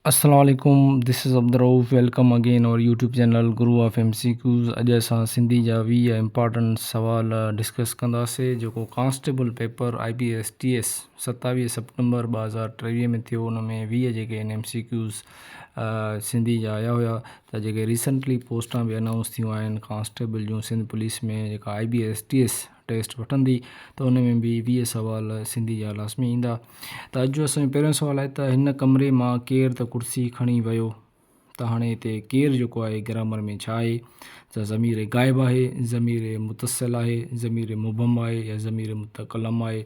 السلام عليڪم this is Abdul Rauf welcome again our YouTube channel Guru of M C Qs اڄ اسان سنڌي جا ويهه امپارٽنٽ سوال ڊسڪس ڪنداسي جيڪو constable paper I B S T S ستاويهه سپٽمبر ٻه هزار ٽيويهه ۾ ٿيو ان ۾ ويهه جيڪي ان ايم سي ڪيوز سنڌي جا آيا هيا ته جيڪي ريسنٽلي پوسٽان به انائونس ٿيون آهن ڪانسٽيبل جون سنڌ پوليس ۾ جيڪا I B S T S test وٺندي ته ان ۾ به ويهه سوال سنڌي جا لازمي ايندا ته اڄ جو اسان جو پهريون سوال آهي ته هن ڪمري مان ڪير ته ڪرسي کڻي ويو ته هاڻي هتي ڪير جيڪو آهي گرامر ۾ ڇا آهي ته ضمير غائب آهي ضمير متصل آهي ضمير مبهم آهي يا ضمير متڪلم آهي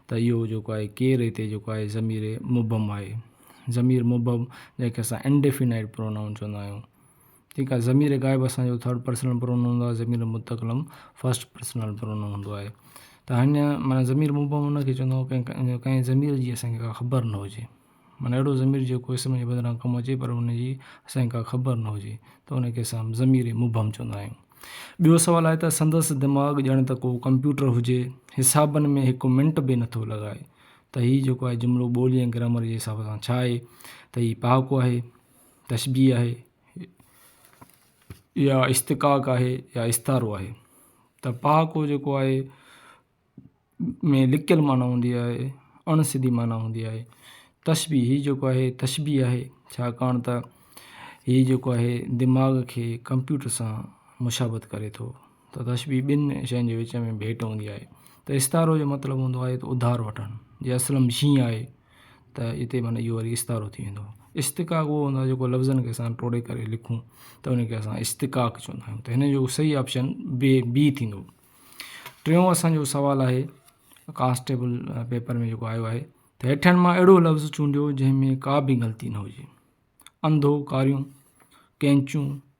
ته اهو جيڪو آهي ڪير هتي جيڪو آهي ضمير مبهم آهي ضمير مبهم جنهن کي اسان انڊيفينائيڊ پرونائون چوندا آهيون جيڪا ضمير غائب اسان جو ٿرڊ پرسنل پرونون هوندو آهي ضمير متڪلم فرسٽ پرسنل پرونون هوندو آهي ته هنيا معنيٰ ضمير مبهم ان کي چوندو آهي ڪنهن ڪنهن ضمير جي اسان کي ڪا خبر نه هجي معنيٰ اهڙو ضمير جيڪو اسم جي بدران ڪم اچي پر ان جي اسان کي ڪا خبر نه هجي ته ان کي اسان ضمير مبهم چوندا آهيون ٻيو سوال آهي ته سندس دماغ ڄڻ ته ڪو ڪمپيوٽر هجي حسابن ۾ هڪ منٽ به نٿو لڳائي ته هي جيڪو آهي جملو ٻولي ۽ گرامر جي حساب سان ڇا آهي ته هي پهاڪو آهي تشبيهه آهي يا استقاق آهي يا استعارو آهي ته پهاڪو جيڪو آهي ۾ لڪل معنيٰ هوندي آهي اڻ سڌي معنيٰ هوندي آهي تشبيهه هي جيڪو آهي تشبيهه آهي ڇاڪاڻ ته هي جيڪو آهي دماغ کي ڪمپيوٽر سان مشابت ڪري ٿو ته تشبيهه ٻن شين جي وچ ۾ ڀيٽ هوندي آهي ته استعارو جو مطلب هوندو آهي ته اڌار وٺڻ جي اصل ۾ شين آهي ته هتي معنيٰ اهو وري استعارو ٿي ويندو استقاق اهو هوندو آهي جيڪو لفظن کي اسان ٽوڙي ڪري لکون ته ان کي اسان استقاق چوندا آهيون ته هن جو صحيح آپشن بي بي ٿيندو ٽيون اسانجو سوال آهي ڪانسٽيبل پيپر ۾ جيڪو آيو آهي ته هيٺن مان اهڙو لفظ چونڊيو جنهن ۾ ڪا به غلطي نه هجي انڌو ڪاريون ڪينچون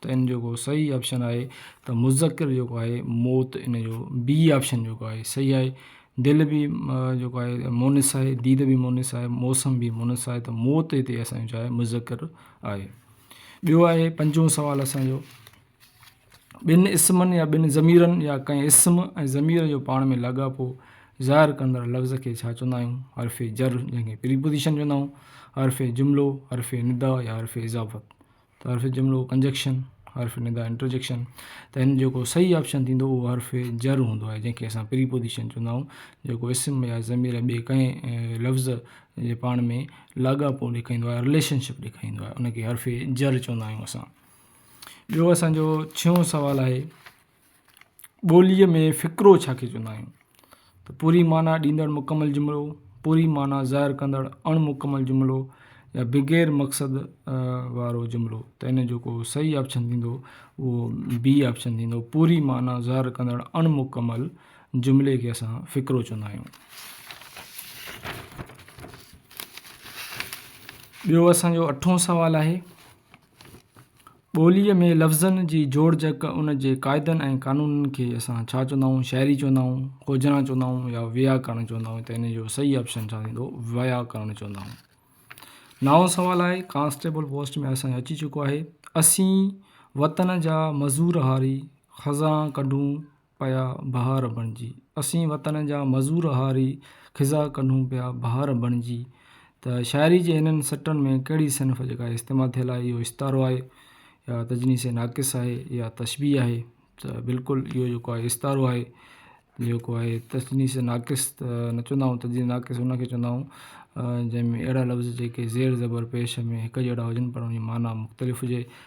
ته ان جو جيڪو صحيح آپشن آهي ته مذڪر جيڪو آهي موت ان جو بي آپشن جيڪو آهي صحيح آهي دل بي جيڪو آهي مونس آهي ديد بي مونس آهي موسم بي مونس آهي ته موت هتي اسان جو آهي مذڪر آهي ٻيو آهي پنجون سوال اسانجو ٻن اسمن يا ٻن ضميرن يا ڪنهن اسم ۽ ضمير جو پاڻ ۾ لاڳاپو ظاهر ڪندڙ لفظ کي ڇا چوندا آهيون حرف جر جنهن کي پريپوزيشن چوندا آهيون حرف جملو حرف ندا يا حرف اضافت ته حرف جملو ڪنجڪشن، حرف ندا انٽرجڪشن، ته هن جيڪو صحيح آپشن ٿيندو اهو حرف جر هوندو آهي جنهن کي اسان پريپوزيشن چوندا آهيون جيڪو اسم يا ضمير ٻئي ڪنهن لفظ جي پاڻ ۾ لاڳاپو ڏيکاريندو آهي رليشن شپ ڏيکاريندو آهي ان کي حرف جر چوندا آهيون اسان ٻيو اسانجو ڇهون سوال آهي ٻوليء ۾ فقرو ڇا کي چوندا آهيون؟ ته پوري معنيٰ ڏيندڙ مڪمل جملو، پوري معنيٰ ظاهر ڪندڙ اڻ مڪمل جملو يا بغير مقصد وارو جملو. ته ان جو ڪو صحيح آپشن ٿيندو اهو بي آپشن ٿيندو، پوري معنيٰ ظاهر ڪندڙ اڻ مڪمل جملي کي اسان فقرو چوندا آهيون. ٻيو اسان جو اٺون سوال آهي. ٻوليء ۾ لفظن جي جوڙجڪ، ان جي قاعدن ۽ قانونن کي اسان ڇا چوندا آهيون، شاعري چوندا آهيون، کوجنا چوندا آهيون يا ويا ڪرڻ چوندا آهيون ته ان جو صحيح آپشن ڇا ٿيندو، ويا ڪرڻ چوندا آهيون. نائون سوال آهي، ڪانسٽيبل پوسٽ ۾ اسان جو اچي چڪو آهي، اسين وطن جا مزور هاري، خزان ڪڍون پيا بهار بڻجي، اسين وطن جا مزور هاري خزا ڪنهون پيا بهار بڻجي ته شاعري جي هنن سٽن ۾ ڪهڙي صنف جيڪا استعمال ٿيل آهي اهو استعارو آهي يا تجنيس ناقص آهي يا تشبيهه آهي ته بلڪل اهو جيڪو آهي استعارو آهي جيڪو آهي تجنيس ناقص ته نه چوندا آهيون تجنيس ناقص ان کي چوندا آهيون جنهن ۾ اهڙا لفظ جيڪي زير زبر پيش ۾ هڪ جهڙا هجن پر ان جي معنيٰ مختلف هجي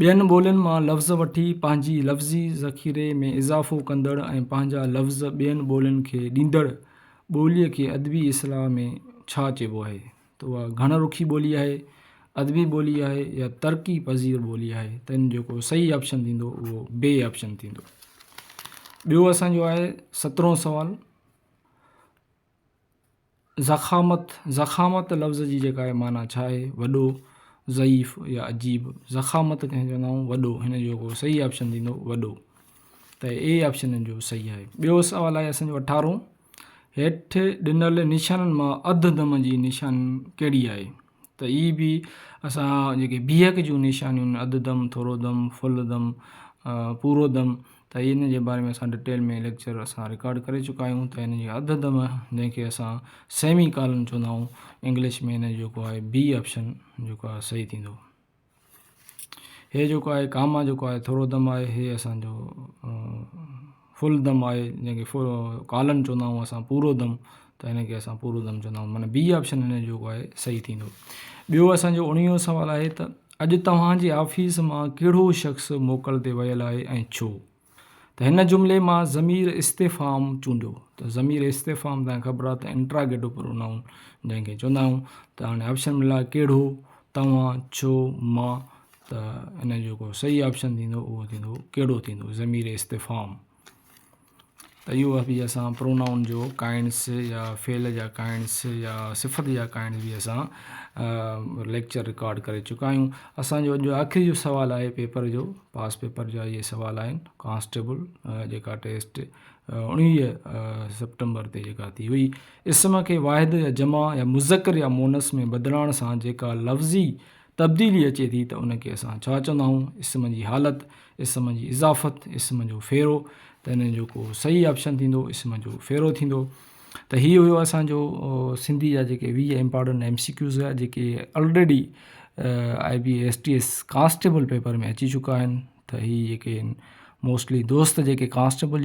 ٻين ٻولين مان لفظ وٺي پنهنجي لفظي ذخيري ۾ اضافو ڪندڙ ۽ پنهنجا لفظ ٻين ٻولين کي ڏيندڙ ٻوليء کي ادبي اصطلاح ۾ ڇا چئبو آهي ته اها گهڻ رخي ٻولي آهي، ادبي ٻولي آهي يا ترقي پذير ٻولي آهي ته ان جيڪو صحيح آپشن ٿيندو اهو بي آپشن ٿيندو. ٻيو اسان جو آهي سترهون سوال. ضخامت، ضخامت لفظ جي جيڪا آهي معنيٰ ڇا آهي؟ وڏو، ضعيف يا عجيب. ضخامت ڪنهن کي چوندا آهيون؟ وڏو، هن جو جيڪو صحيح آپشن ٿيندو وڏو ته اي آپشن هن جو صحيح آهي. ٻيو سوال آهي اسان جو اٺارهون، هيٺ ڏنل نشانن مان اڌ دم جي نشاني ڪهڙي آهي؟ ته ئي به اسان جيڪي بيهڪ جون نشانيون آهن اڌ دم، ٿورو دم، فل دم، پورو دم ته ان جي باري ۾ اسان ڊٽيل ۾ ليڪچر اسان رڪارڊ ڪري چڪا آهيون ته ان جي اڌ دم جنهن کي اسان سيمي ڪالن چوندا آهيون انگلش ۾ ان جو جيڪو آهي بي آپشن جيڪو آهي صحيح ٿيندو هي جيڪو آهي ڪاما جيڪو آهي ٿورو دم آهي هي اسانجو فل دم آهي جنهن کي فل ڪالم چوندا آهيون اسان پورو دم ته هن کي اسان پورو دم چوندا آهيون معنيٰ بي آپشن هن جو آهي صحيح ٿيندو ٻيو اسانجو اڻويهو سوال آهي ته اڄ توهان جي آفيس مان ڪهڙو شخص موڪل تي ويل آهي ۽ ڇو ته هن جملي مان ضمير استفهام چونڊيو ته ضمير استفهام تان خبر آهي ته انٽراگيٽو پرونائون جنهن کي چوندا آهيون ته هاڻي آپشن ملا ڪهڙو توهان ڇو مان ته ان جو ڪو صحيح آپشن ٿيندو اهو ٿيندو ڪهڙو ٿيندو ضمير استفهام ته اهو وقت به اسان پرونائون جو ڪائنس يا فعل جا ڪائنس يا صفت جا ڪائنس به اسان ليڪچر رڪارڊ ڪري چڪا آهيون اسان جو اڄ آخري جو سوال آهي پيپر جو پاس پيپر جا اهي سوال آهن ڪانسٽيبل جيڪا ٽيسٽ اڻويهه سيپٽمبر تي جيڪا ٿي هئي اسم کي واحد يا جمع يا مذڪر يا مونس ۾ بدلائڻ سان جيڪا لفظي تبديلي اچي ٿي ته ان کي اسان ڇا چوندا آهيون اسم جي حالت اسم جي اضافت اسم جو ڦيرو ته ان جو ڪو صحيح آپشن ٿيندو اسم جو ڦيرو ٿيندو ته هي هيو اسانجو سنڌي جا جيڪي ويهه امپارٽنٽ ايم سي ڪيوز هيا جيڪي already I B S T S constable paper ۾ اچي چڪا آهن ته هي جيڪي موسٽلي دوست جيڪي ڪانسٽيبل جي